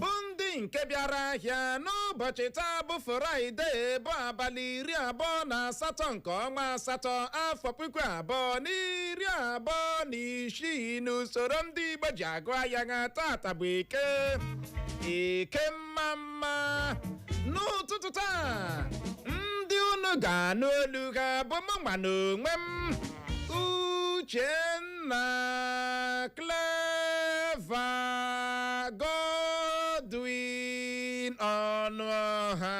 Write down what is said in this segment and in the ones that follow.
bụ ndị nke bịara ahịa n'ụbọchị taa bụ Friday bụ abalị iri abụọ na asatọ nke ọnwa asatọ afọ puku abụọ na iri abụọ na isii n'usoro ndị igbo ji agụ ahịa ha tata bụ eke eke mma mma n'ụtụtụ taa ndị unu ga-anụ olu ha bụ mụnwa na onwe m uchenna clever godwin ọnụọha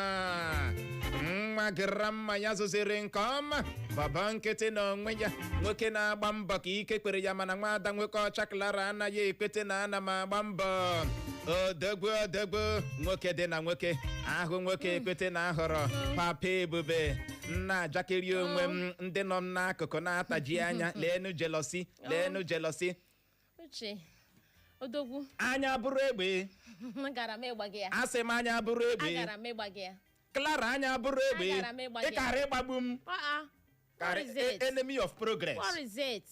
nwa grandma ya zụziri nke ọma bọbọ nkịtị na onwe ya nwoke na-agba mbọ ka ike kwere ya mana nwaada nwoke ọcha clara anaghị ekwete na ana m agba mbọ odogwu odogwu nwoke dị na nwoke ahụ nwoke ekwete na ahọrọ papa ebube m na-ajakeri onwe m ndị nọ m n'akụkụ na-ataji anya leenu jealousy leenu jealousy uche odogwu anya bụrụ egbe agara m ịgba gị ya asị m anya bụrụ egbe agara m ịgba gị ya clara anya bụrụ egbe Agara m ịgba gị. ịkara ịgbagbu m Uh-uh. What Karị- is e- it? enemy of progress What is it?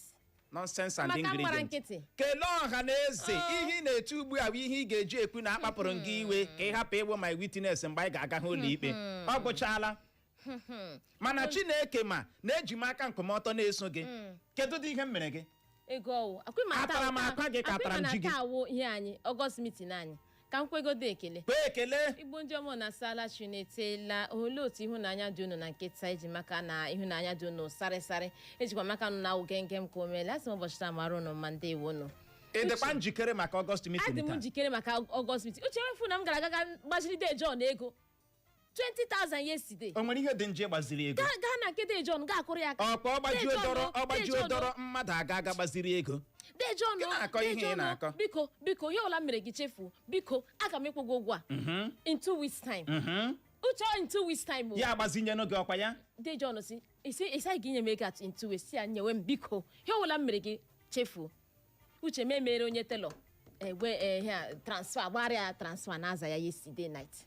nonsense and Maka mgbara ingredient nkịtị. kelee ọha na eze Oh. ihe ị na-etu ugbu a bụ ihe ị ga-eji ekwu na akpapụrụ m gị iwe ka ị hapụ ịbụ my witness mgbe anyị ga-aga hụ ụlọ ikpe ọ gwụchaala mana chineke ma na eji m aka nkwụmọtọ na-eso gị kedu dị ihe m mere gị ego ọwụ akwụghị ma Atara m akwa gị ka atara m ji gị. taa awụ ihe anyị August meeting anyị ka m kwegodo ekele kpee ekele igbo ndị ọma nụ asala chi nụ etela olee otu ihu na anya dị unu na nke taa eji m aka na ihu na anya dị unu sarị sarị ejikwa m aka nụ na awụ genge m ka o meela asị m ụbọchị taa mara unu mma ndị iwu unu ị dịkwa njikere maka August adị meeting m taa njikere maka August meeting uche nwefu na m gara aga gbaziri de John ego 20,000 yesterday o nwere ihe dị n'ije gbaziri ego gaa gaa na nke Dee John gaa kụrụ ya aka ọkwa ọgbaji Dee John, odọrọ Dee ọgbaji John, odọrọ mmadụ aga aga gbaziri ego Dee John, Gị na-akọ Dee ihe ị John, na-akọ. biko biko ihe ọbụla m mere gị chefuo biko aga m ịkwụ gị ụgwọ a in two weeks time Mhm. uche ọ in two weeks time o. ya agbazinye n'oge ọkwa ya Dee John si isi isi anyị ga-enye m ego at in two weeks ya nyewe m biko ihe ọbụla m mere gị chefuo uche m emere onye telọ egbe eh, ihe a, transfer gbara ya transfer na aza ya yesterday night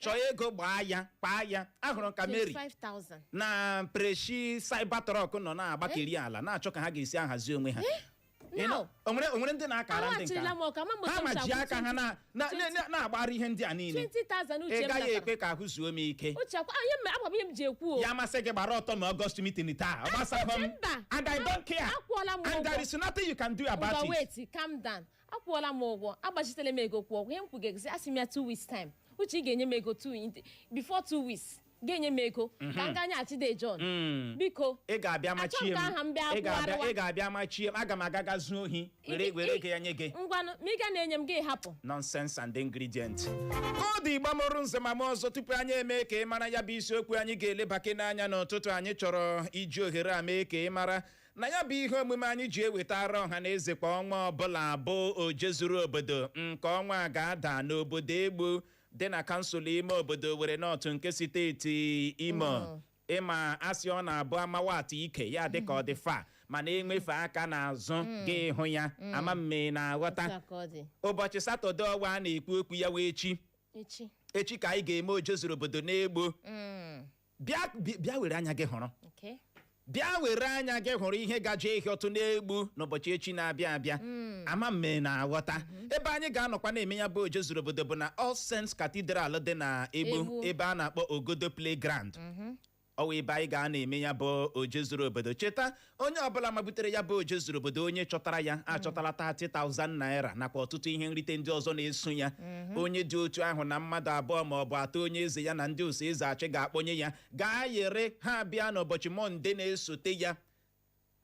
chọọ ego gbaa ya kpaa ya ahụrụ m ka mary 25,000. na preshi cybertruck nọ na-agbakeri ala na-achọ ka ha ga-esi ahazi onwe ha Ị nọ- Now, o nwere o nwere ndị na-akara ndị nke aghachirila m ọka, ama m otu ha m ma si ji akwụ aka ha na- na- 20. na- na-agbara ihe ndị a niile 20,000 uche ị m gaghị natara. ekwe ka ahụ zuo m ike Uche akwa- ah, ihe m- agwa m ihe m ji ekwu o. ya masị gị gbara ọtọ na August meeting taa ọ gbasakwa m Mba. and i don't care Akwụọla m and there ụgwọ. is nothing you can do about Ngwa it wait, calm down. akwụọla m ụgwọ agbachitela m ego kwụọ ihe m kwugezi asị m ya two weeks time uche ị ga-enye m ego two in- before two weeks ga-enye m ego ka m gaa nyeghachi de John Mm. biko ị ga-abịa machie Achọghị m ka aha m bịa ị ga-abịa kwụgharịwa. ị ga-abịa machie m aga m aga ga zuo ohi were Ị- were ị- ego ya nye gị ngwanụ ma ị ga na-enye m gị hapụ nonsense and ingredient ọ dị Igbo mụrụ nze ma mụọ ọzọ tupu anyị eme ka ị mara ya bụ isiokwu anyị ga-elebakị n'anya n'ụtụtụ anyị chọrọ iji ohere a mee ka ị mara na ya bụ ihe omume anyị ji ewetara ọha na eze kwa ọnwa ọbụla a bụ oje zuru obodo nke ọnwa a ga-ada n'obodo egbu dị na kansụl ime obodo Owerri North nke steeti Imo ị ma a sị ọ na-abụ a mawa atụ ike ya dịka ọ dị far mana e wefe aka n'azụ gị hụ ya ama m ma ị na-aghọta Otu a ka ọ dị. ụbọchị satọde ọwa a na-ekwu okwu ya wụ echi echi echi ka anyị ga-eme oje zuru obodo n'egbu Mm. bịa bi- bịa were anya gị hụrụ Okay. bịa were anya gị hụrụ ihe gaje ihi ọtụ n'egbu n'ụbọchị echi na-abịa abịa ama m ma ị na-aghọta ebe anyị ga-anọkwa na-eme ya bụ oje zuru obodo bụ na All Saints Cathedral dị na egbu Egbu. ebe a na-akpọ Ogodo Playground ọ wụ ebe anyị ga na-eme ya bụ oje zuru obodo cheta onye ọbụla mabutere ya bụ oje zuru obodo onye chọtara ya achọtala 30,000 naira nakwa ọtụtụ ihe nrite ndị ọzọ na-eso ya onye dị otu ahụ na mmadụ abụọ ma ọ bụ atọ onye eze ya na ndị oso eze achị ga-akpọnye ya gaa yere ha bịa n'ụbọchị mọnde na-esote ya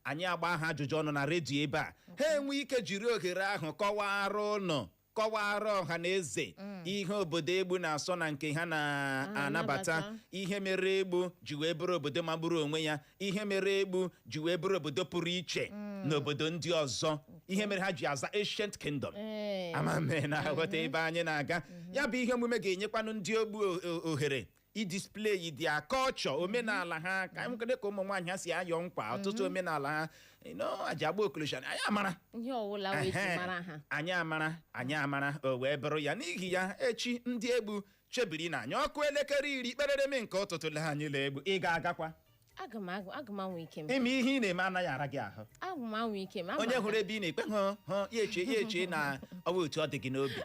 anyị agba ha ajụjụ ọnụ na redio ebe a ha enwe ike jiri ohere ahụ kọwara ụnụ kọwara ọha na eze ihe obodo egbu na-asọ na nke ha na-anabata Anabata. ihe mere egbu ji wee bụrụ obodo magburu onwe ya ihe mere egbu ji wee bụrụ obodo pụrụ iche n'obodo ndị ọzọ ihe mere ha ji aza ancient kingdom Ee. ama m ma ị na-aghọta ebe anyị na-aga ya bụ ihe omume ga-enyekwanụ ndị egbu o- o- ohere idisplay their culture omenala ha ka anyị kwede ka ụmụ nwaanyị ha si ayọ nkwa ọtụtụ omenala ha no aji agba okorosha anyị amara ihe ọwụla wụ e ji Ehe. mara ha anyị amara anyị amara o wee bụrụ ya n'ihi ya echi ndị egbu chebirinụ anyị ọkụ elekere iri kperereme nke ụtụtụ le anyị la egbu ị ga-agakwa aga m agụ- aga m anwa ike m ime ihe ị na-eme anaghị ara gị ahụ aga m anwa ike m ama onye m- hụrụ ebe ị na-ekpe hụ hụ ya eche ya eche na ọ bụ otu ọ dị gị n'obi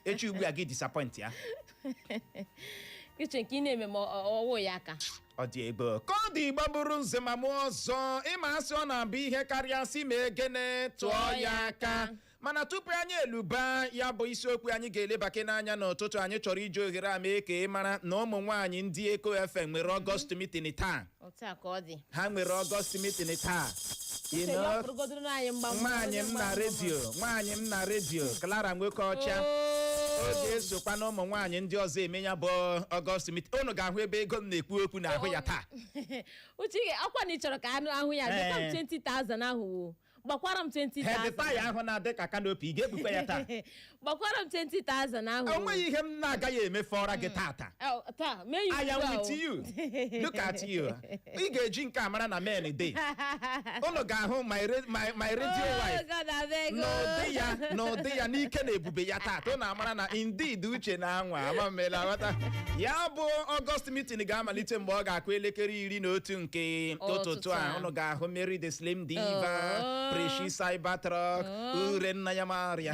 echi ugbu a gị disappoint ya uche nke ị na-eme ma ọ- ọ- ọwụ ya ka ọ dị ebe ọ- ka ọ dị Igbo bụrụ nze ma mụọ ọzọ ị ma a sị ọ na-abụ ihe karịa sị ma egene tụọ ya aka mana tupu anyị eluba ya bụ isiokwu anyị ga-elebake n'anya n'ụtụtụ anyị chọrọ iji ohere a mee ka ị mara na ụmụ nwaanyị ndị eko fm nwere ọgọst meeting taa otu a ka ọ dị ha nwere ọgọst meeting taa You Uche ya know, ọpụrụgodoro n'anyị mgba mgba, nwaanyị onye m mgba na mgba. redio nwaanyị m na redio Clara nwoke ọcha Oo. ọ ga-esokwa na ụmụ nwaanyị ndị ọzọ eme ya bụ ọgọst meeting unu ga-ahụ ebe ego m na-ekwu okwu n'ahụ ya taa uche ị ga- akwa na ị chọrọ ka anụ ahụ ya dị Eh. kam 20,000 ahụ wo gbakwara m 20,000 head tie ahụ na-adị ka kanopi ị ga-ebukwa ya taa gbakwara m 20,000 ahụ o nweghị ihe m na-agaghị emefọra gị tata Oh, taa mee ya I am ugbu a with o. you. Look at you. Ị ga-eji nke a mara na men dey. Unu ga-ahụ my ra- my my radio Oh, wife God, abeg, oh. n'ụdị ya n'ụdị ya n'ike na ebube ya tata unu amara na indeed uche na anwa ama mmela ghọta ya bụ ọgọst meeting ga-amalite mgbe ọ ga-akụ elekere iri na otu nke ụtụtụ a ụnụ ga-ahụ Mary the Slim Diva oh. Preshi Cybertruck oh. ure nna ya marịa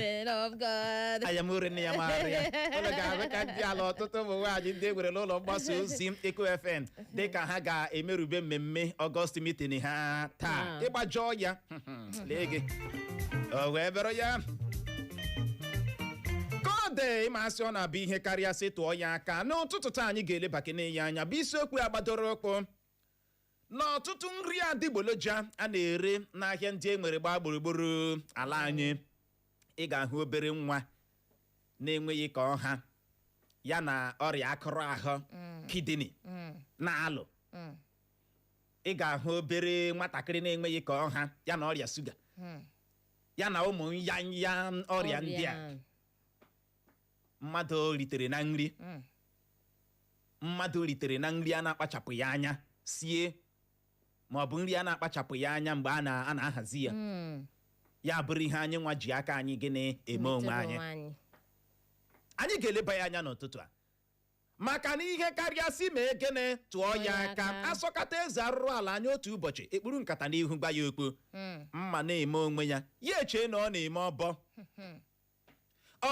aya m ure nna ya marịa ụnụ ga-ahụ ka ndị ala ọtụtụ ụmụ nwaanyị ndị e nwere n'ụlọ mgbasa ozi Eko FM dịka ha ga-emerube mmemme Ọgọst meeting ha taa ịgbajọ ya lee gị o wee bịara ya ka ọ dị ịma a sị ọ na-abụ ihe karịa sị tụọ ya aka n'ụtụtụ taa anyị ga-elebakene ya anya bụ isiokwu ya gbadoro ụkwụ n'ọtụtụ nri adịgboloja a na-ere n'ahịa ndị e nwere gbaa gburugburu ala anyị ị ga-ahụ obere nwa na-enweghị ka ọ ha ya na ọrịa akụrụ ahụ kidney na-alụ ị ga-ahụ obere nwatakịrị na-enweghị ka ọ ha ya na ọrịa shuga Hmm. ya na ụmụ nyanya ọrịa ndị a mmadụ ritere na nri Hmm. mmadụ ritere na nri a na-akpachapụghị anya sie ma ọ bụ nri a na-akpachapụghị anya mgbe a na- a na-ahazi ya Hmm. ya bụrụ ihe anyị nwa ji aka anyị gịnị eme onwe Butere anyị anyị ga-eleba ya anya n'ụtụtụ a maka na ihe karịa sị mee gịnị tụọ ya aka a sọkata eze arụrụ ala anya otu ụbọchị e kpuru nkata n'ihu gwa ya okwu hmm. mma na-eme onwe ya ya echee na ọ na-eme ọbọ hmm.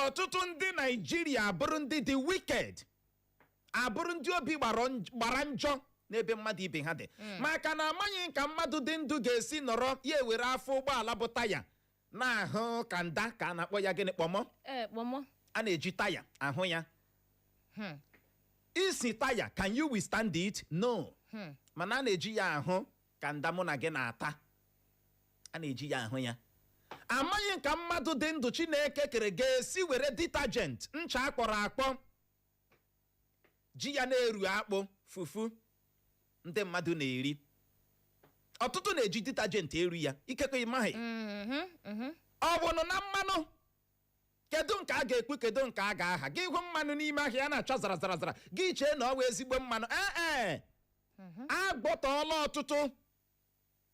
ọtụtụ ndị Naijiria abụrụ ndị dị wicked abụrụ ndị obi gbara njọ n'ebe mmadụ ibe ha dị hmm. maka na amaghị ka mmadụ dị ndụ ga-esi nọrọ ya ewere afọ ụgbọala bụ taya na-ahụ kanda ka a na-akpọ ya gịnị kpọmọ ee kpọmọ a na-eji taya ahụ ya Hmm. isi taya can you withstand it no Hmm. mana a na-eji ya ahụ kanda mụ na gị na-ata a na-eji ya ahụ ya amaghị ka mmadụ dị ndụ Chineke kere ga-esi were detergent ncha akpọrọ akpọ ji ya na-eru akpụ fufu ndị mmadụ na-eri ọtụtụ na-eji detergent eru ya ikekwe ịmaghị Mhm, mhm. ọ bụnụ na mmanụ kedu nke a ga-ekwu kedu nke a ga-aha gị hụ mmanụ n'ime ahịa a na-acha zara zara zara gị chee na ọ bụ ezigbo mmanụ ee ee agbọtọọla ọtụtụ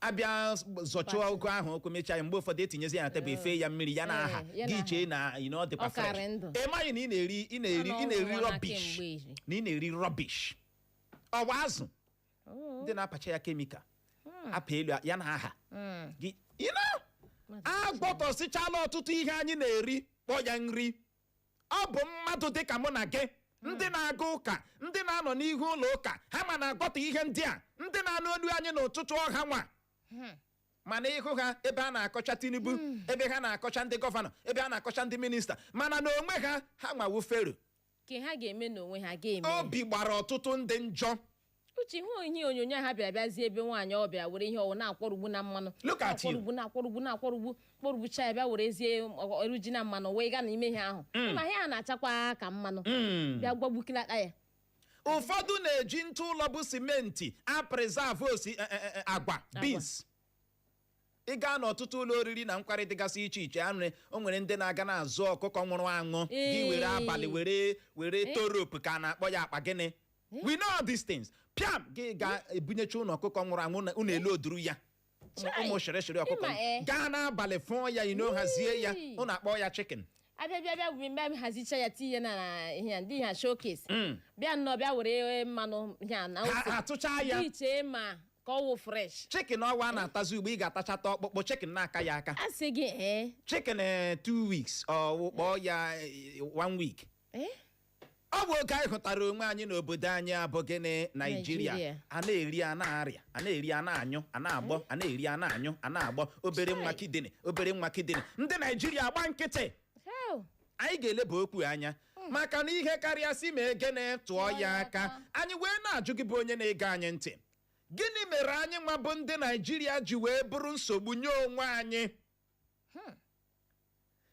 abịa zọchụọ Pati. ụgụ ahụ ụkwụ mechaa ya mgbe ụfọdụ etinyezi ya na tebụl efe ya mmiri ya na aha Eh, ya na gị aha. chee na you know, ọ dịkwa Ọ karị fresh ndụ. ị maghị na ị na-eri ị na-eri Ọ ị na-eri nọrọ n'ụwa na rọbish kemgbe iri. na ị na-eri rọbish ọwa azụ Oh, ndị na-apacha ya kemikal apa elu ya na aha mm. gị you know, Mmadụ a gbọtọsịchala ọtụtụ ihe anyị na-eri kpọ ya nri ọ bụ mmadụ dị ka mụ na gị ndị na-aga ụka ndị na-anọ n'ihu ụlọ ụka ha ma na-agwọta ihe ndị a ndị na-anụ olu anyị n'ụtụtụ ọha nwa mana ị hụ ha ebe ha na-akọcha Tinubu ebe ha na-akọcha ndị gọvanọ ebe ha na-akọcha ndị minista mana na onwe ha ha nwa wụ Fero ka ha ga-eme n'onwe ha ga-eme obi gbara ọtụtụ ndị njọ Uche hụ ihe onyonyo ha bịara bịazie ebe nwaanyị ọ bịara were ihe ọ wụ na-akwọrugbu na mmanụ Look at you. na-akwọrugbu na-akwọrugbu na-akwọrugbu kwọrugbucha ya bịa werezie ọrụ ji na mmanụ wee gaa na ime ihe ahụ ma ihe a na-achakwa ka mmanụ Mm. bịa gwagbukilata ya ụfọdụ na-eji ntụ ụlọ bụ simenti apreserve osi eh, eh, eh, agwa beans ị gaa n'ọtụtụ ụlọ oriri na nkwari dịgasị iche iche a nwere o nwere ndị na-aga na-azụ ọkụkọ nwụrụ anwụ gị Ee. were abalị were were Eh. torop ka a na-akpọ ya akpa gịnị we know all these things pịam gị ga ebunyecha ụlọ ọkụkọ nwụrụ anwụ na- ụnụ elu oduru ya Ụmụ- Chai. ụmụ shịrịshịrị ọkụkọ Ịma, eh. gaa n'abalị fụọ ya ino hazie ya Wii. ụnụ akpọ ya chicken abịa bịa bịa wuri mgbe a hazicha ya tinye na na ihe a, ndị ihe a showcase Mm. bịa nnọọ bịa were mmanụ ihe a na Ha- ose. ha tụchaa ya. gị chee ma ka ọ wụ fresh chicken ọwa a na-atazi ugbo ị ga-atachata ọkpụkpụ chicken na-aka ya aka a sị gị ee chicken eh, two weeks ọ kpọọ ya eh, one week ee ọ bụ oge anyị hụtara onwe anyị n'obodo anyị a bụ gịnị Naijiria Naijiria. a na-eri a na-arịa a na-eri a na-anyụ a na-agbọ a na-eri a na-anyụ a na-agbọ obere nwa Chai. kidney obere nwa kidney ndị Naijiria agba nkịtị hell anyị ga-eleba okwu anya maka na ihe karịa si ma egene tụọ ya aka anyị wee na-ajụ gị bụ onye na-ege anyị ntị gịnị mere anyị nwa bụ ndị Naijiria ji wee bụrụ nsogbu nye onwe anyị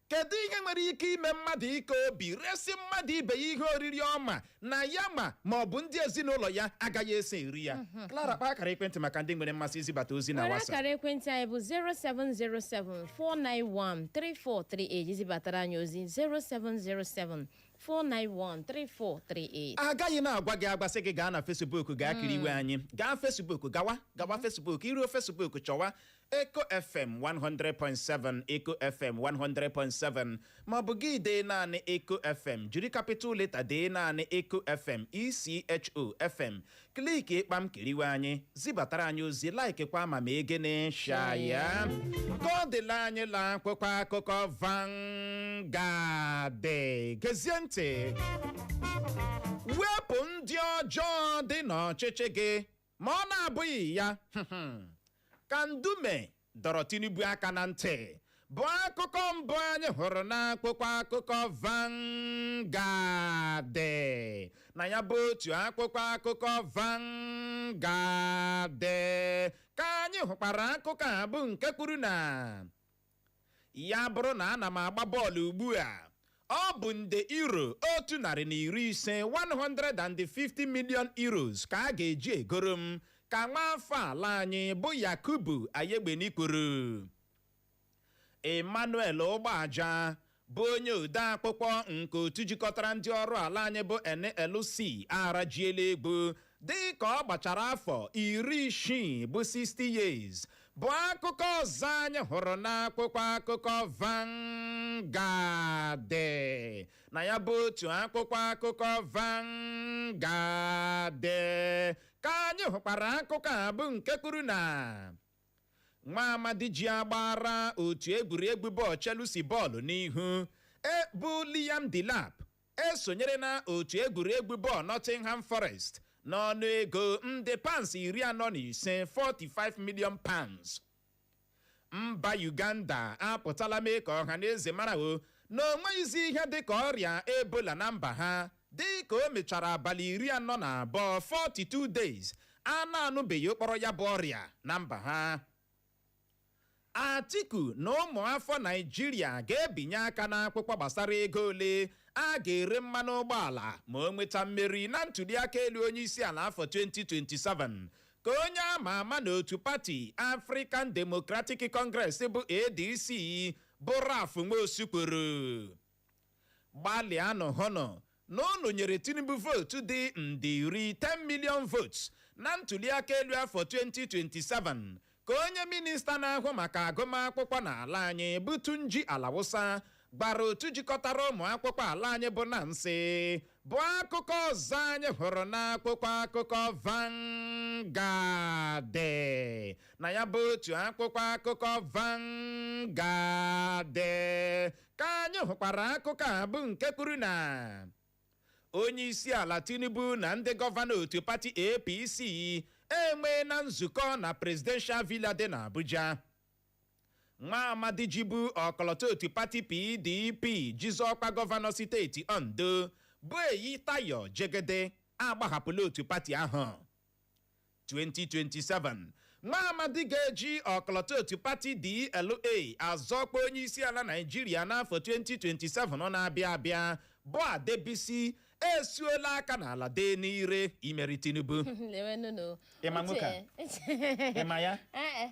kedu ihe nwere ike ime mmadụ ike obi resi mmadụ ibe ya ihe oriri ọ ma na ya ma ma ọ bụ ndị ezinụlọ ya agaghị esi eri ya Clara kpaa akara ekwentị maka ndị nwere mmasị izibata ozi na were WhatsApp akara ekwentị anyị bụ 07074913438 izibatara anyị ozi 07074913438 agaghị na-agwa gị agwa sị gị gaa na Facebook gaa kiriwe anyị gaa Facebook gawa gawa Facebook i ruo Facebook chọwa Echo FM 100.7 Echo FM 100.7 ma ọ bụ gị dee naanị Echo FM jiri capital letter dee naanị Echo FM ECHO FM click kpam kiriwe anyị zibatara anyị ozi laikikwa ma ma egene share ya ka ọ dịla anyị la akwụkwọ akụkọ Vanguard gezie ntị wepụ ndị ọjọọ dị n'ọchịchị gị ma ọ na-abụghị ya ka ndume dọrọ tinubu aka na ntị bụ akụkọ mbụ anyị hụrụ n'akwụkwọ akụkọ Vanguard na ya bụ otu akwụkwọ akụkọ Vanguard ka anyị hụkwara akụkọ a bụ nke kwuru na ya bụrụ na ana m agba bọọlụ ugbu a ọ bụ nde euro otu narị na iri ise 150 million euros ka a ga-eji egoro m ka nwa afọ ala anyị bụ yakubu ayegbeni kwuru emmanuel ụgbọaja bụ onye ode akwụkwọ nke otu jikọtara ndị ọrụ ala anyị bụ NLC arajiela egbu dị ka ọ gbachara afọ iri isii bụ 60 years bụ akụkọ ọzọ anyị hụrụ n'akwụkwọ akụkọ Vanguard na ya bụ otu akwụkwọ akụkọ Vanguard ka anyị hụkwara akụkọ a bụ nke kwuru na nwa amadi ji agbara otu egwuregwu bọọlụ Chelsea bọọlụ n'ihu bụ Liam Delap esonyere na otu egwuregwu bọọlụ Nottingham Forest n'ọnụ ego nde pounds iri anọ na ise 45 million pounds mba Uganda apụtala mee ka ọha na eze mara o na o nweghịzi ihe dị ka ọrịa ebola na mba ha Dị ka o mechara abalị iri anọ na abụọ, 42 days, a na-anụbeghị ụkpọrọ ya bụ ọrịa na mba ha. Atiku na ụmụafọ Naịjirịa ga-ebinye aka n'akwụkwọ gbasara ego ole a ga-ere mmanụ ụgbọala ma o nweta mmeri na ntuliaka elu onyeisiala afọ 2027 ka onye a ma ama n'otu pati African Democratic Congress bụ ADC bụ Ralph Nwosu kwuru. gbalịanụ hụnụ na unu nyere Tinubu vootu dị nde iri 10 million votes na ntuliaka elu afọ 2027 ka onye minista na-ahụ maka agụmakwụkwọ n'ala anyị bụ Tunji Alausa gwara otu jikọtara ụmụ akwụkwọ ala anyị bụ NANS bụ akụkọ ọzọ anyị hụrụ n'akwụkwọ akụkọ Vanguard na ya bụ otu akwụkwọ akụkọ Vanguard Ka anyị hụkwara akụkọ a bụ nke kwuru na onye isi ala Tinubu na ndị gọvanọ otu pati APC enweela nzukọ na Presidential Villa dị n'Abuja. Nwa amadi jibu ọkọlọtọ otu pati PDP ji zọọ ọkwa gọvanọ steeti Ondo bụ Eyitayo Jegede agbahapụla otu pati ahụ. 2027 nwa amadi ga-eji ọkọlọtọ otu pati DLA azọ ọkwa onye isi ala Naịjirịa n'afọ 2027 na-abịa abịa bụ Adebisi esuola aka n'ala dee n'ire imeri Tinubu Lewe nụnụ. Ị ma nwoke a? Uche. Ị ma ya? Eh, eh.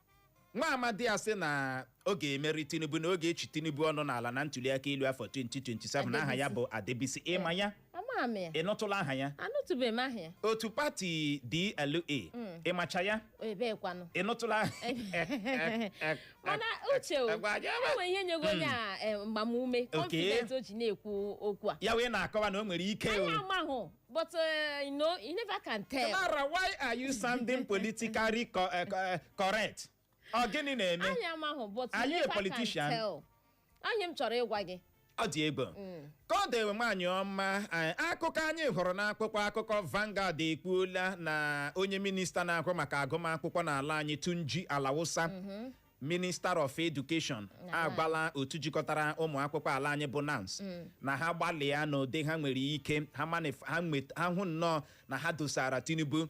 nwa amadi a sị na ọ ga-emeri tinubu na ọ ga-echi tinubu ọnụ n'ala na ntuliaka elu afọ 2027 aha ya bụ adebisi ị ma ya ama m ya ị nụtụla aha ya anụtụbeghị m aha ya otu pati dla ị macha ya ebee kwanụ ị nụtụla mana uche o Agwa aja ebe. e nwe ihe nyego onye a eh, mgbamume confidence o ji na-ekwu okwu a ya wee na-akọwa na o nwere ike o anyị amahụ but uh, you know you never can tell Clara, why are you sounding politically co- eh, co- eh, correct? Ọ gịnị na-eme? anyị amahụ but Are you you a never can politician? tell ọ nya m chọrọ ịgwa gị Ọ dị egwu. Ka ọ dị nwaanyị ọma, eh, akụkọ anyị hụrụ n'akwụkwọ akụkọ Vanguard ekwuola na onye minista na-ahụ maka agụmakwụkwọ n'ala anyị Tunji Alausa Minister of Education Na- agwala otu jikọtara ụmụ akwụkwọ ala anyị bụ NANS na ha gbalịa n'ụdị ha nwere ike ha manif- ha nwet- ha hụ nnọọ na ha dosara Tinubu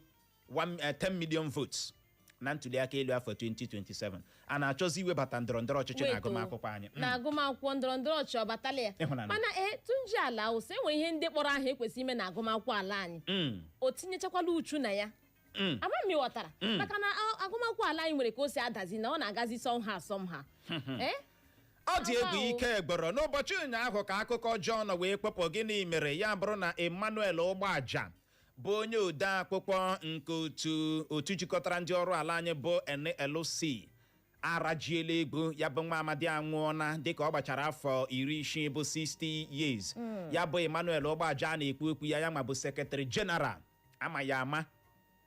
one- eh, 10 million votes na ntuliaka elu afọ 2027 a na-achọzi iwebata ndọrọ ndọrọ ọchịchị na Wait o, agụmakwụkwọ anyị Mm. na agụmakwụkwọ ndọrọ ndọrọ ọchịchị ọ batala ya Ị hụna ya. mana ee tunji alausa e nwere ihe ndị kpọrọ aha e kwesị ime na agụmakwụkwọ ala anyị Mm. o tinyechakwala uchu na ya Mm. ama m ị ghọtara Mm. maka na a- agụmakwụkwọ ala anyị nwere ka o si adazi na ọ na-agazi somehow somehow Eh? ọ dị egwu Awa o. ike gwụrụ n'ụbọchị ụnyaahụ ka akụkọ ọjọọ nọ wee kpọpụ gịnị mere ya bụrụ na emmanuel ụgbọaja bụ onye ode akwụkwọ nke otu otu jikọtara ndị ọrụ ala anyị bụ nlc arajiela egwu ya bụ nwa amadi anwụọna dịka ọ gbachara afọ iri isii bụ 60 years ya bụ emmanuel ụgbọaja a na-ekwu okwu ya ya ma bụ secretary general a ma ya ama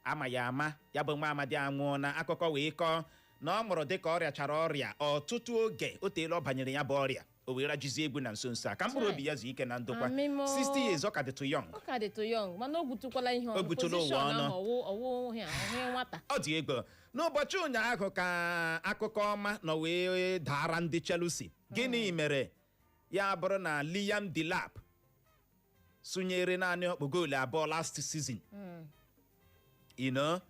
a ma ya ama ya bụ nwa amadi anwụọna akụkọ wee kọọ na ọ nwụrụ dịka ọ rịachara ọrịa ọtụtụ oge o teela ọ banyere ya bụ ọrịa o wee rajizie egwu na nso nso a ka mkpụrụ obi ya zuo ike na ndokwa Amen o. 60 years ọ ka dịtụ young ọ ka dịtụ young mana o gwutukwala ihe O gwutula ụwa Position ọnụ. ahụ ọ wụ ọ wụ ihe a, ọhụ nwata ọ dị egwu n'ụbọchị ụnyaahụ ka akụkọ ọma nọ wee daara ndị Chelsea gịnị mere ya bụrụ na Liam Delap sụnyere naanị ọkpụ goolu abụọ last season ino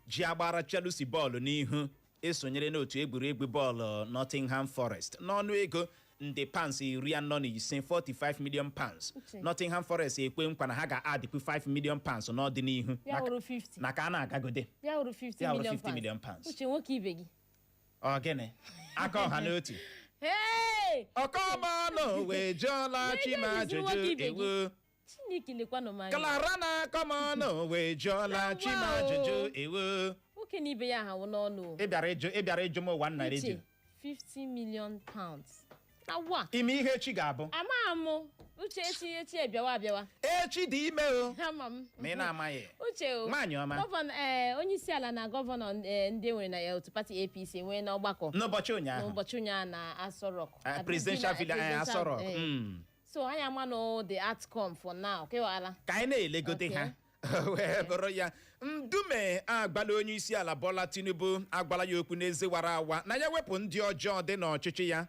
ji agbara Chelsea bọọlụ n'ihu esonyere n'otu egwuregwu bọọlụ Nottingham Forest n'ọnụ ego nde pounds iri anọ na ise 45 million pounds Uche. Nottingham Forest ekwe nkwa na ha ga-addịkwu 5 million pounds n'ọdịnihu ya Maka- wụrụ 50 na ka a na-agagode ya wụrụ 50 Ya wụrụ million 50 million pounds. pounds. uche nwoke ibe gị ọ gịnị aka ọha n'otu Hey! akọ m ọnụ wee jụọla chi m Nwoke ibe ajụjụ gị. ewo Chineke lekwanụ m anya. klara na akọ m ọnụ wee jụọla chi m ajụjụ ewo Nwoke na ibe ya ahụ n'ọnụ. ị bịara ịjụ ị bịara ịjụ m ụwa nna redio Uche, 50 million pounds. awụ a ime ihe echi ga-abụ amaghị m uche echi echi abịawa abịawa echi dị ime o ama m ma ị na-amaghị uche o Nwaanyị ọma. gọvanọ ee onye isi ala na gọvanọ ee, ndị nwere na ya otu pati apc nwee n'ọgbakọ n'ụbọchị ụnyaahụ n'ụbọchị ụnyaahụ na Aso Rock Ah, presidential villa eh, Aso Rock. Mm. so anyị ama na the outcome for now kewala ka anyị na-elegode Okay. ha wee bụrụ ya Ndume agwala onye isi ala Bola Tinubu agwala ya okwu n'ezi wara awa na ya wepụ ndị ọjọọ dị n'ọchịchị ya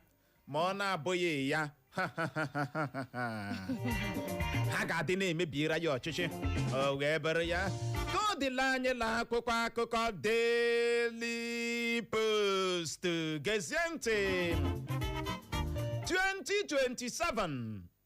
ma ọ na-abụghị ya ha ga-adị na-emebiera ya ọchịchị o wee bụrụ ya ka ọ dịla anyị la akwụkwọ akụkọ Daily Post gezie ntị 2027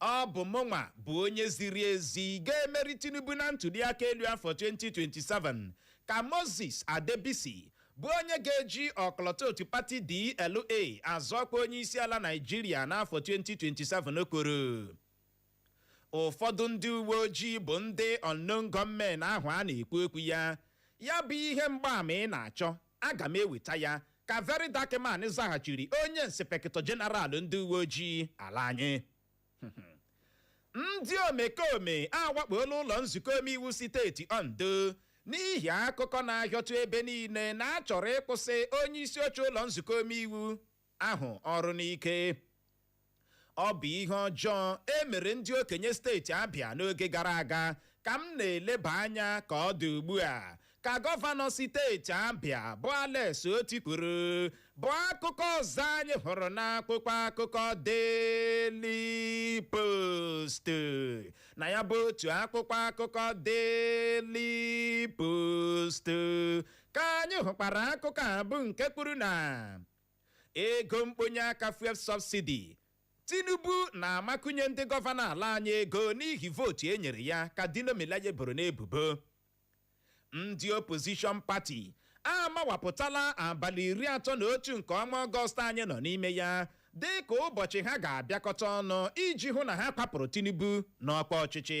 Ọ bụ mụnwa bụ onye ziri ezi ga-emeri Tinubu na ntuliaka elu afọ 2027, ka Moses Adebisi bụ onye ga-eji ọkọlọtọ otu pati DLA azọ ọkwa onyeisiala Naịjirịa n'afọ 2027 kwuru. Ụfọdụ ndị uwe ojii bụ ndị unknown gunmen ahụ a na-ekwu okwu ya, ya bụ ihe mgbaama ị na-achọ Aga m eweta ya, ka Very Dark Man zaghachiri onye nsipekịtọ jeneral ndị uwe ojii ala anyị. Ndị omekome awakpoola ụlọ nzukọ omeiwu siteeti Ondo n'ihi akụkọ na-ahịọtụ ebe niile na a chọrọ ịkwụsị onye isi oche ụlọ nzukọ omeiwu ahụ ọrụ n'ike ọ bụ ihe ọjọọ e mere ndị okenye steeti Abịa n'oge gara aga ka m na-eleba anya ka ọ dị ugbu a ka gọvanọ steeti Abịa bụ Alex Otti kwuru bụ akụkọ ọzọ anyị hụrụ n'akwụkwọ akụkọ Daily Post na ya bụ otu akwụkwọ akụkọ Daily Post ka anyị hụkwara akụkọ a bụ nke kwuru na ego mkponye aka fuel subsidy Tinubu na-amakunye ndị gọvanọ ala anyị ego n'ihi vootu e nyere ya ka Dino Melaye boro n'ebubo ndị opposition party amawapụtala abalị iri atọ na otu nke ọnwa ọgọst anyị nọ n'ime ya dị ka ụbọchị ha ga-abịakọta ọnụ iji hụ na ha kwapụrụ Tinubu n'ọkwa ọchịchị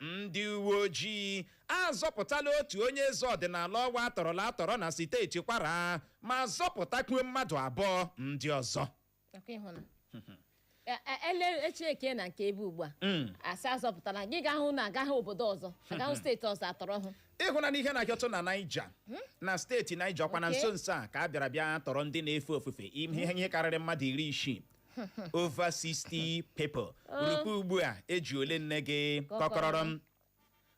ndị uwe ojii azọpụtala otu onye eze ọdịnala ọwa atọrọla atọrọ na steeti kwara ma zọpụtakwuo mmadụ abụọ ndị ọzọ Nakwa ịhụ na E- e- ele echi eke na nke ebe ugbu a Mm. asị azọpụtala gị ga-ahụ na agaghị obodo ọzọ agaghị steeti ọzọ atọrọ hụ ịhụna n'ihe na-ahịọtụ na Niger na steeti Niger ọkwa na Okay. nso nso a ka a bịara bịa tọrọ ndị na-efe ofufe ihe karịrị mmadụ iri isii over 60 people rukwee ugbu a eji ole nne gị kọkọrọrọ m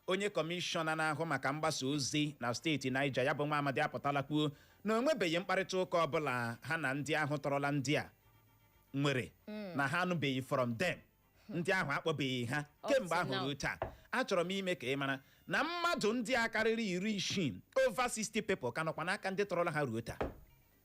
onye kọmishọna na-ahụ maka mgbasa ozi na steeti Niger ya bụ nwa amadi apụtala kwuo na o nwebeghị mkparịta ụka ọbụla ha na ndị ahụ tọrọla ndị a nwere na ha anụbeghị from them ndị ahụ akpọbeghị ha kemgbe ahụ now. ruo taa achọrọ m ime ka ị mara na mmadụ ndị a karịrị iri isii over 60 people ka nọkwa n'aka ndị tọrọla ha ruo taa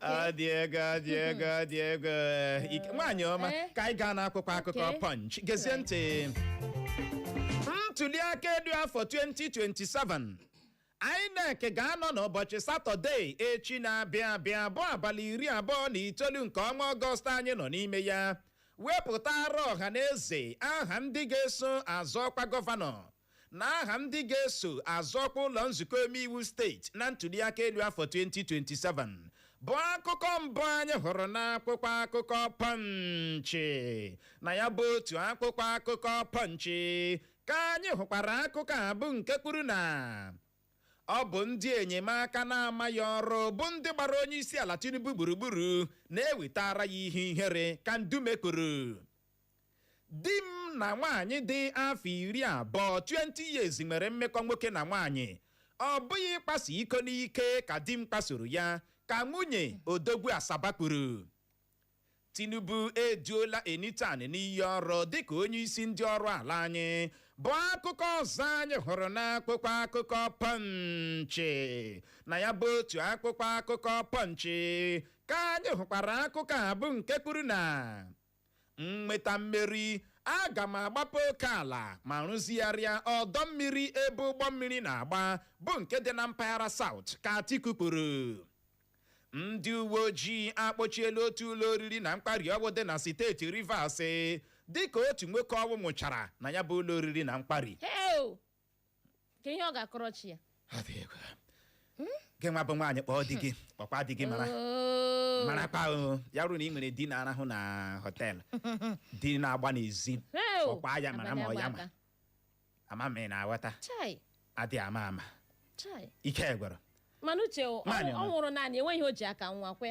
ọ dị egwu ọ dị egwu ọ dị egwu Ike- nwaanyị ọma Eh? ka anyị gaa n'akwụkwọ akụkọ Okay. punch gezie ntị ntuli aka elu afọ 2027 INEC ga-anọ n'ụbọchị satọde echi na-abịa abịa bụ abalị iri abụọ na itoolu nke ọnwa ọgọst anyị nọ n'ime ya wepụtara ọha na eze aha ndị ga-eso azọ ọkwa gọvanọ na aha ndị ga-eso azọ ọkwa ụlọ nzukọ omeiwu steeti na ntuliaka elu afọ 2027 bụ akụkọ mbụ anyị hụrụ n'akwụkwọ akụkọ pọnchị na ya bụ otu akwụkwọ akụkọ pọnchị ka anyị hụkwara akụkọ a bụ nke kwuru na ọ bụ ndị enyemaka na-amaghị ọrụ bụ ndị gbara onye isi ala Tinubu gburugburu na-ewetara ya ihe ihere ka Ndume kwuru Di m na nwaanyị dị afọ iri abụọ, 20 years, nwere mmekọ nwoke na nwaanyị. Ọ bụghị ịkwaso iko n'ike ka di m kwasoro ya, ka nwunye odogwu Asaba kwuru. Tinubu eduola Enitan n'iyi ọrụ dịka onyeisi ndị ọrụ ala anyị, bụ akụkọ ọzọ anyị hụrụ n'akwụkwọ akụkọ Pọnchị. Na ya bụ otu akwụkwọ akụkọ Pọnchị ka anyị hụkwara akụkọ a bụ nke kwuru na m nweta mmeri aga m agbape oke ala ma rụzigharịa ọdọ mmiri ebe ụgbọ mmiri na-agba bụ nke dị na mpaghara South ka Atiku kwuru ndị uwe ojii akpọchiela otu ụlọ oriri na nkwari ọgwụ dị na steeti Rivers dịka otu nwoke ọnwụ nwụchara na ya bụ ụlọ oriri na nkwari Heo! ka ihe ọ ga-akọrọ chi ya Ọ dị egwu. gị nwa bụ nwaanyị kpọọ di gị kpọkwa di gị mara Oo. marakwa o, ya bụrụ na ị nwere di na-arahụ na họteelụ di na-agba n'ezi Heo! kpọkwa ya mara ma ọ ya ma Abada, ama m ị na-aghọta chai adị ama ama chai ike gwụrụ mana uche o, Nwaanyị ọ ọ nọ. nwụrụ naanị enweghị ihe o ji aka nwa kwe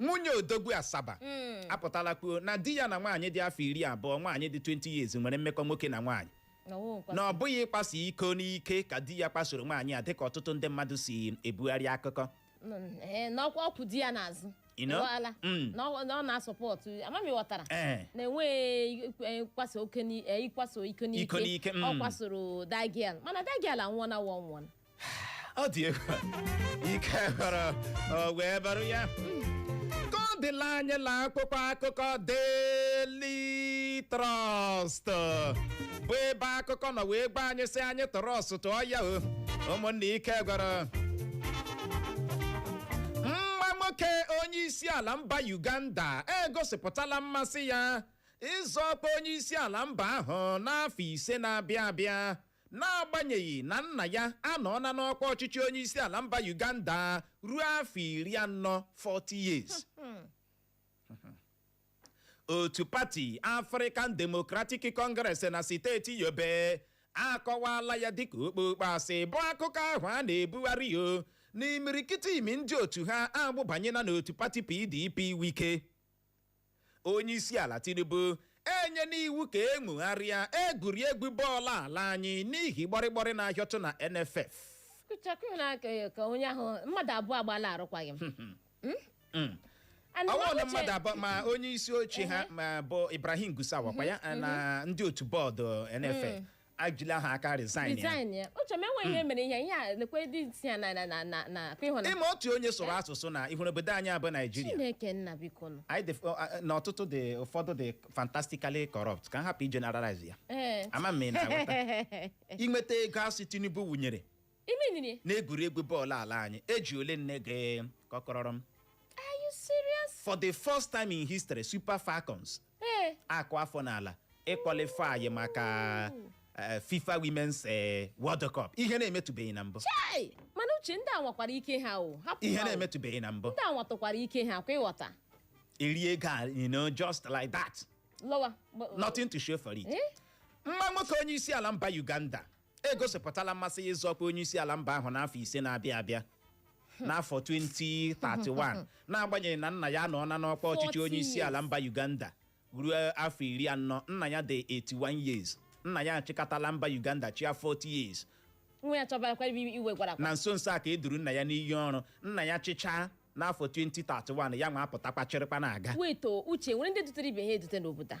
nwunye odogwu asaba apụtala kwuo na di ya na nwaanyị dị afọ iri abụọ nwaanyị dị 20 years nwere mmekọ nwoke na nwaanyị Na ọ wụ nkwa. na ọ bụghị ịkwaso iko n'ike ka di ya kwasoro nwaanyị a dịka ọtụtụ ndị mmadụ si ebugharị akụkọ Mm, eh, na ọ kwa ọ kwụ di ya n'azụ You know? Ị ghọọla? Mm. na ọ na ọ na-asọpọtụ ama m ị ghọtara ee na enweghị ịkwaso oke ni- eh, ịkwaso iko n'ike Iko n'ike, mm. ọ kwasoro the girl mana the girl anwụọna wa ọ nwụọna ọ dị egwu ike gwụrụ o wee bụrụ ya ka ọ dịla anyị la akwụkwọ akụkọ Daily Trust bụ ebe akụkọ nọ wee gba anyị sị anyị tọrọ ọsụtụ ọya o ụmụnna ike gwụrụ nwa nwoke onye isi ala mba Uganda egosipụtala mmasị ya ịzọ ọkwa onye isi ala mba ahụ n'afọ ise na-abịa abịa N'agbanyeghị na nna ya anọọla n'ọkwa ọchịchị onyeisiala mba Uganda ruo afọ iri anọ 40 years otu pati African Democratic Congress na steeti Yobe akọwala ya dịka okpokpo asị bụ akụkọ ahụ a na-ebugharị o na imirikiti n'ime ndị otu ha agbụbanyela n'otu pati PDP Wike onye isi ala tinubu enyena iwu ka e nwogharịa egwuregwu bọọlụ ala anyị n'ihi gbọrịgbọrị na-ahịọtụ na nff kụchakụ na ka ka onye ahụ mmadụ abụọ agbala arụkwaghịm Mm. And ọ wụ na Nwabuche- mmadụ abụọ ma onye isi oche ha ma bụ ibrahim gusau wa kwa ya na ndị otu bọọdụ nff ejila ha aka resign ya resign ya uche m enweghị ihe mere ihe ihe a lekwe dị isi ya na na na na na ka ị hụna ị ma otu onye sụrụ asụsụ na ị hụrụ obodo anyị a bụ naijiria chineke nna biko nụ anyị dị ọ, a- na ọtụtụ dị ụfọdụ dị fantastically corrupt ka m hapụ igeneralize ya ee ama m ị na-aghọta inweta ego a sị tinubu wụnyere Iminini. N'egwuregwu bọọlụ ala anyị, e ji ole nne gị kọkọrọrọ m. Are you serious? For the first time in history, Super Falcons Ee. akụ afọ n'ala ịqualify maka eh, FIFA Women's eh, World Cup. Ihe na-emetụbeghị na mbụ. Chai! Mana uche ndị a nwakwara ike ha o. Hapụ Ihe ha o. na-emetụbeghị na mbụ. Ndị a nwatụkwara ike ha kwa ị ghọta. E rie ego a, you know, just like that. Lọwa. Gba- Nothing to show for it. Eh? nwa nwoke onye isi ala mba uganda egosipụtala mmasị ya ịzọ ọkwa onye isi ala mba ahụ n'afọ ise na-abịa abịa n'afọ 2031 n'agbanyeghị na nna ya anọọna n'ọkwa ọchịchị 40 onye isi ala mba Uganda ruo afọ iri anọ nna ya dị 81 years nna ya achịkọtala mba Uganda chịa 40 years nwa ya chọbarakwa iwe iwegharakwa na nso nso a ka e duru nna ya n'iyi ọrụ nna ya chịchaa n'afọ 2031 ya nwa apụtakwa chịrịkwa na-aga wait o uche nwere ndị dutere ibe ha edute n'obodo a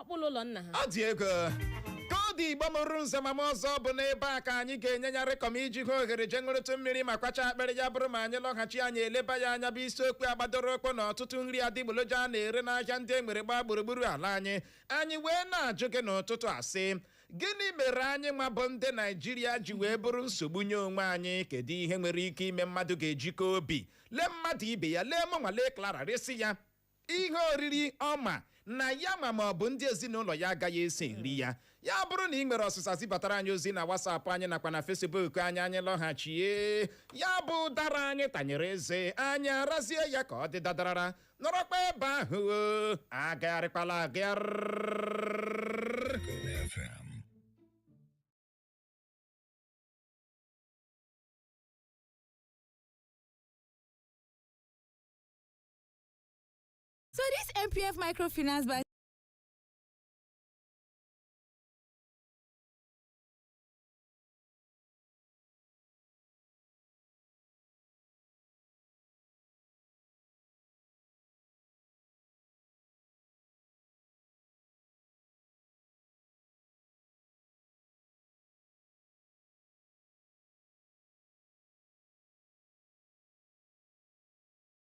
ọkpụlụ ụlọ nna ha ọ dịgo ka ọ dị igbo mụrụ nze ma mụọ ọzọ bụ n'ebe a ka anyị ga-enye ya rịkọm iji hụ ohere jee ṅụrụtụ mmiri ma kwacha akpịrị ya bụrụ ma anyị lọghachi anyị eleba ya anya bụ isiokwu a gbadoro ụkwụ na ọtụtụ nri adigboloja a na-ere n'ahịa ndị e nwere gbaa gburugburu ala anyị anyị wee na-ajụ gị n'ụtụtụ a sị gịnị mere anyị nwa bụ ndị naijiria ji wee bụrụ nsogbu nye onwe anyị kedu ihe nwere ike ime mmadụ ga-eji kaa obi lee mmadụ ibe ya lee mụnwa lee Clara resị ya ihe oriri ọ ma na ya nwa ma ọ bụ ndị ezinụlọ ya agaghị esi nri ya ya bụrụ na ị nwere ọsịsa zibatara anyị ozi na WhatsApp anyị nakwa na Facebook anyị anyị lọghachie ya bụ ụdara anyị tanyere eze anyị arazie ya ka ọ dị dadarara nọrọkwa ebe ahụ o, agagharịkwala agagharị FM. So this MPF microfinance bank